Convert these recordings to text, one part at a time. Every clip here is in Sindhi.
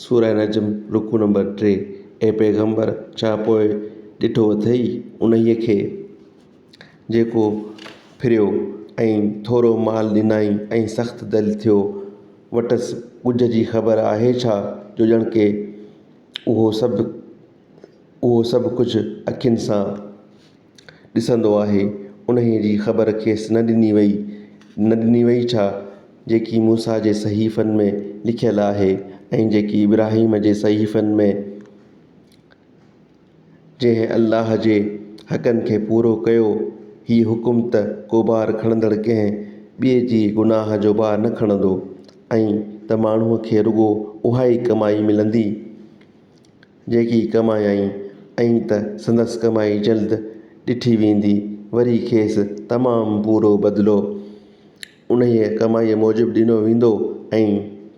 سوره نجم رڪوع نمبر ٽي اي پيغمبر! ڇا پوء ڏٺو اٿئي انهيء کي، جيڪو ڦريو ۽ ٿورو مال ڏنائين ۽ سخت دل ٿيو، وٽس ڳجهه جي خبر آهي ڇا، جو ڄڻڪه اهو سڀ اهو سڀ ڪجهه اکين سان. ڏسندو آهي، انهيء جي خبر کيس نه ڏني ويئي، نه ڏني ويئي ڇا، جيڪي موسيٰ جي صحيفن ۾ لکيل آهي ۽ جيڪي ابراهيم جي صحيفن ۾، جنهن الله جي حقن کي پورو ڪيو، هي حڪم ته ڪوبار کڻندڙ ڪنهن ٻئي جي گناهه جو بار نه کڻندو ۽ ته ماڻهوء کي رڳو اهائي ڪمائي ملندي. جيڪي ڪمايائين ائين ته سندس ڪمائي جلد ڏٺي ويندي وري کيس تمام پورو بدلو انهيء ڪمائيء موجب ڏنو ويندو ۽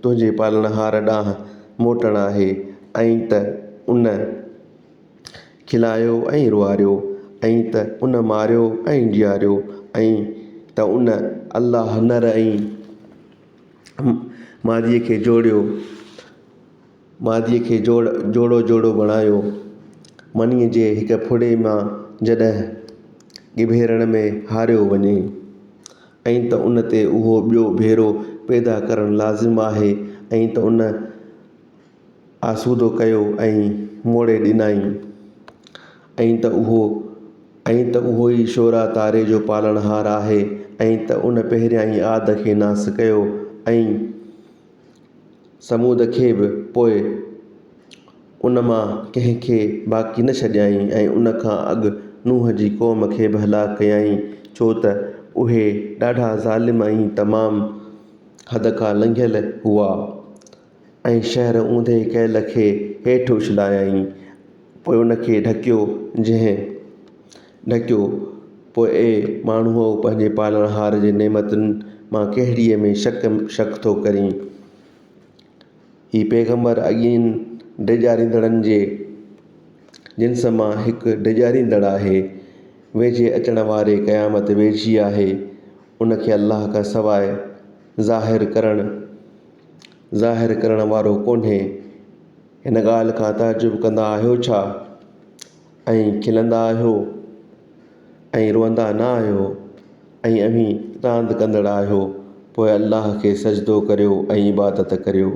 تنهنجي پالڻهار ڏانهن موٽڻ آهي ائين ته ان کلايو ۽ روئاريو ائين ته ان ماريو ۽ جياريو ائين ته ان الله نر ۽ ماديء کي جوڙيو. ماديء کي جوڙ جوڙو جوڙو بڻايو. منيء جي هڪ ڦڙي مان جڏهن ڳڀيرڻ ۾ هاريو وڃي ائين ته ان تي اهو ٻيو ڀيرو پيدا ڪرڻ لازم آهي ائين ته ان آسودو ڪيو ۽ موڙي ڏنائين ائين ته اهو ائين ته اهو ئي شورا تاري جو پالڻهار آهي ائين ته ان پهريائين آد کي ناس ڪيو ۽ ثمود کي به پوء ان مان ڪنهن کي باقي نه ڇڏيائين ۽ ان کان اڳ نوح جي قوم کي به هلاڪ ڪيائين، ڇو ته اهي ڏاڍا ظالم ۽ تمام حد کان لنگهيل هئا ۽ شهر اونڌي ڪيل کي هيٺ اڇلايائين، پوء ان کي ڍڪيو، جنهن. ڍڪيو، پوء اي ماڻهوء پنهنجي پالڻهار جي نعمتن مان ڪهڙيء ۾ شڪ شڪ ٿو ڪرين؟ هي پيغمبر اڳين ڊيڄاريندڙن جي جنس مان هڪ ڊيڄاريندڙ آهي. ويجهي اچڻ واري قيامت ويجهي آهي، ان کي الله کان سواء ظاهر ڪرڻ، ظاهر ڪرڻ، وارو ڪونهي. هن ڳالهه کان تعجب ڪندا آهيو ڇا؟ ۽ کلندا آهيو ۽ روئندا نه آهيو ۽ اوهين راند ڪندڙ آهيو پوء الله کي سجدو ڪريو ۽ عبادت ڪريو.